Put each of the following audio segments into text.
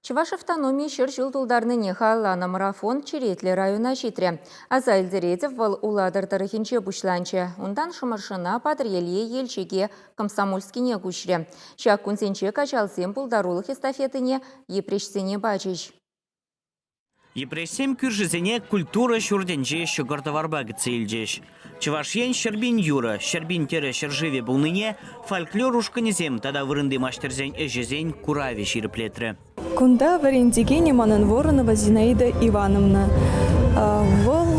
Чӑваш автономи ҫӗр ҫул тултарнине халалланӑ марафон черетлӗ района ҫитрӗ. Аса илтеретӗп, вӑл Улатӑр тӑрӑхӗнче пуҫланчӗ. Унтан Шӑмӑршӑна, Патӑрьеле, Елчӗке, Комсомольскине куҫрӗ. Ҫак кунсенче каҫалсем пултарулӑх эстафетине Йӗпреҫсене пачӗҫ. Йӗпреҫсем кӳршисене культура ҫуртӗнчи ҫӑкӑр-тӑварпа кӗтсе илчӗҫ. Чӑваш Ен ҫӗрпин юрӑ, ҫӗрпин тӗрӗ ҫӗршывӗ пулнине фольклор ушкӑнӗсем тата вырӑнти маҫтӑрсен ӗҫӗсен куравӗ ҫирӗплетрӗ. Кунта вӗрентекенӗ манӑн Воронова Зинаида Ивановна. Вӑл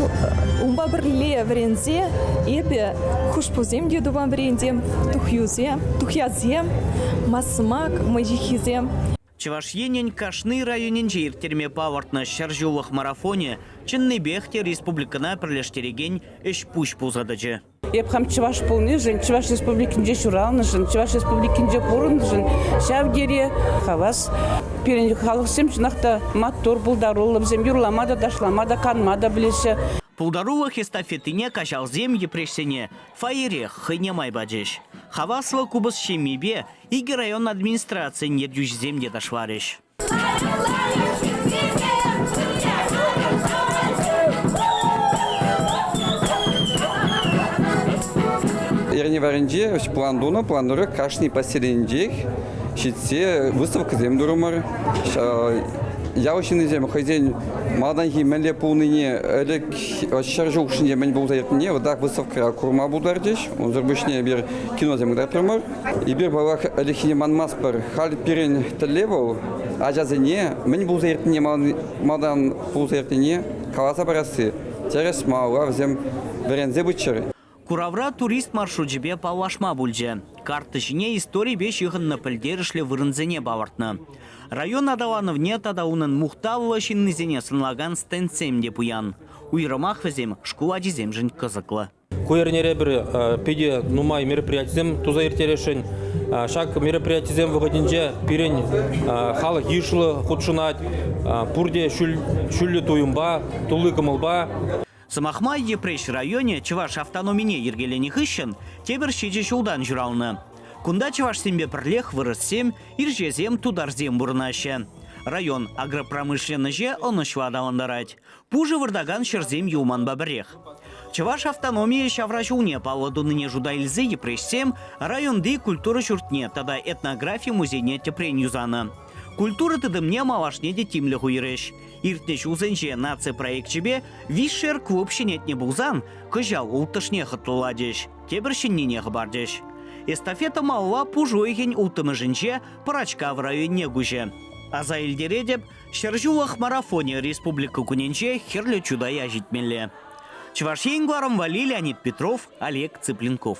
унпа пӗрле вӗренсе эпӗ хушпусем те тупам вӗрентем, тухьюсем, тухьясем, масмак мӑйҫыххисем. Чӑваш Енӗн кашни районӗнче ирттерме палӑртнӑ ҫӗр ҫуллӑх марафонӗ чӑннипех те республикӑна пӗрлештерекен ӗҫ-пуҫ пулса тӑчӗ. Эп хам чӑваш пулнишӗн, Чӑваш Республикинче ҫуралнӑшӑн, Чӑваш Республикинче пурӑннӑшӑн ҫав тери хавас. Пирӗн халӑхсем чӑнах та маттур, пултаруллӑ, вӗсем юрлама та, ташлама та, канма та пӗлеҫҫӗ. Пултарулӑх эстафетине каҫалсем йӗпреҫсене фойерех хӑйне май пачӗҫ. Хаваслӑ купӑс ҫеммипе Икӗ район администрацийӗн ертӳҫисем те ташларӗҫ. Эрневарӗнче план тунӑ план тӑрӑх кашни поселенчех ҫитсе выставкӑсем турӑмӑр. Ял ҫыннисем хӑйсен малтанхи мӗнле пулнине, ӗлӗк ҫӗр ҫул хушшинче мӗн пулса иртнине вот так выставкӑра курма пултарчӗҫ. Унсӑр пуҫне эпир киносем кӑтартрӑмӑр. Эпир, паллах, ӗлӗкхине манмастпӑр. Халь пирӗн тӗллев вӑл ачасене мӗн пулса иртнине малтан пулса иртнине каласа парасси. Тӗрӗс малалла вӗсем вӗренсе пыччӑр. Куравра турист маршручӗпе паллашма пулчӗ. Карта ҫине историпе ҫыхӑннӑ пӗлтерӗшлӗ вырӑнсене палӑртнӑ. Район аталанӑвне тата унӑн мухтавлӑ ҫыннисене сӑнлакан стендсем те пуян. Уйрӑмах вӗсем шкул ачисемшӗн кӑсӑклӑ. Ку эрнере пӗр питӗ нумай мероприятисем туса ирттересшӗн. Ҫак мероприятисем вӑхӑтӗнче пирӗн халӑх йышлӑ хутшӑнать. Пурте ҫӳллӗ туйӑмпа, тулли кӑмӑлпа. Сӑмах май, Йӗпреҫ районӗ чӑваш автономине йӗркеленӗ хыҫҫӑн тепӗр ҫичӗ ҫултан ҫуралнӑ. Кунта чӑвашсемпе пӗрлех вырӑссем, ирҫесем, тутарсем пурӑнаҫҫӗ. Район агропромышленноҫе ӑнӑҫлӑ аталантарать. Пушӑ выртакан ҫӗрсем юлманпа пӗрех. Чӑваш автономийӗ ҫавра ҫулне паллӑ тунине шута илсе йӗпреҫсем районти культура ҫуртне тата этнографи музейне тӗпрен юсанӑ. Культура тытӑмне малашне те тимлӗх уйӑрӗҫ. Иртнӗ ҫулсенче наци проекчӗпе Вишшер клуб ҫӗнетнӗ пулсан, кӑҫал улттӑшне хӑтлӑлатӗҫ, тепӗр ҫӗннине хӑпартӗҫ. Эстафета малла пуш уйӑхӗн улттӑмӗшӗнче Пӑрачкав районне куҫӗ. Аса илтеретӗп, Ҫӗр ҫуллӑх марафонӗ Республика кунӗнче Хӗрлӗ Чутай ҫитмелле. Чӑваш Ен кӑларӑмвалли Леонид Петров, Олег Цыпленков.